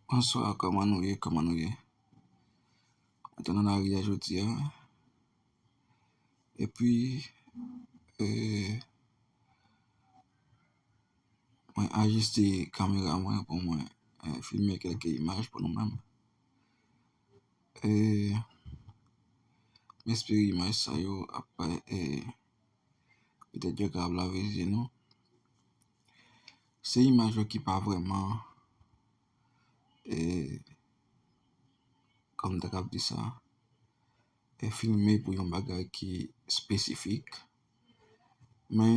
Bonsoir kòman nou ye kòman nou ye Mwen te nan lari a jodi a Epi eee Mwen ajiste kamera mwen pou mwen filme kelke imaj pou nou menm Eee M espere imaj sa yo ap eee Petèt yo ka ap lave zye nou Se imaj yo ki pa vreman e kòm ta kab di sa e filme pou yon bagay ki espesifik. Men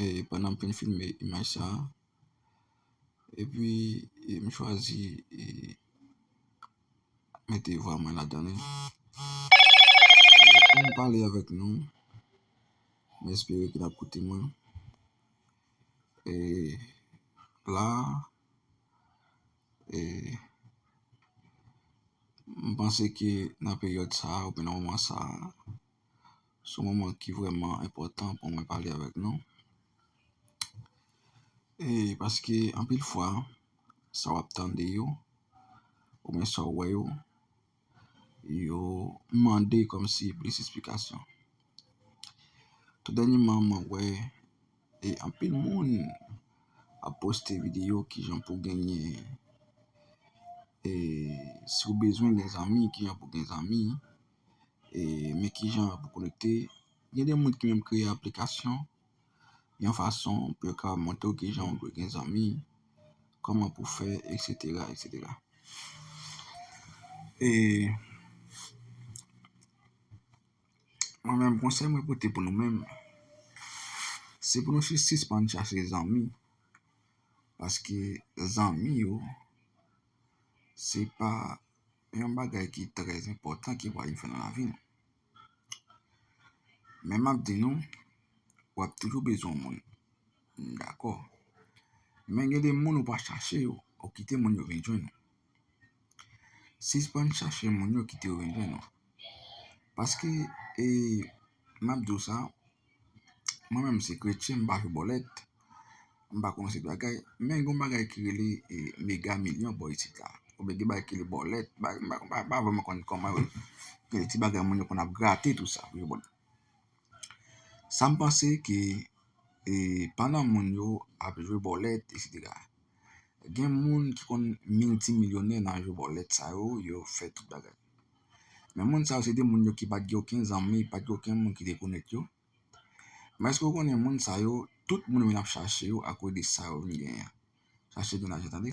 e pandan m fin filme imaj sa e pi m chwazi e mete vwa mwen ladan li. Pou m pale avèk nou m espere ke n ap koute mwen. E la e m panse ke nan peryòd sa a oubyen nan moman sa a se yon moman ki vreman enpòtan pou mwen pale avèk nou. E paske anpil fwa sa w ap tande yo oubyen sa w wè yo. yo mande kòm si plis esplikasyon. Tou dènyeman mwen wè e anpil moun ap poste videyo kijan pou genyen e si w bezwen gen zanmi kijan pou gen zanmi e men kijan pou konekte. Gen de moun ki menm kreye aplikasyon yon fason pou yo kapab montre w kijan ou dwe gen zanmi, kòman pou w fè, eksetera, eksetera. E mwen menm konsèy mwen pote pou nou menm, se pou nou sispann chache zanmi, paske zanmi yo se pa yon bagay ki trèzenpòtan ki pou al fè nan lavi nou. Men map di nou, wap toujou bezwen moun. M dakò. Men gen de moun ou pa chache yo, ou kite moun yo vin jwenn ou. Sispann chache moun yo kite yo vin jwenn ou. Paske, e map di w sa, Mwen menm se kretyen m pa jwe bòlèt, m pa konnen se ki bagay, men gon bagay ki rele mega milyon bò isit la, ou byen gen bagay ki rele bòlèt, m pa vreman konnen kòman yo rele, gen de ti bagay moun yo konn ap grate tou sa pou jwe bòlèt. Sa m panse ke pandan moun yo ap jwe bòlèt eksetera, gen moun ki konn miltimilyonè nan jwe bòlèt sa yo, yo fè tout bagay. Men moun sa yo se te moun yo ki pa t gen okenn zanmi, pa t gen okenn moun ki te konèt yo. Men èske w konnen moun sa yo, tout moun yo vin ap chache yo akoz de sa yo vin genyen an. Chache gen lajan tande.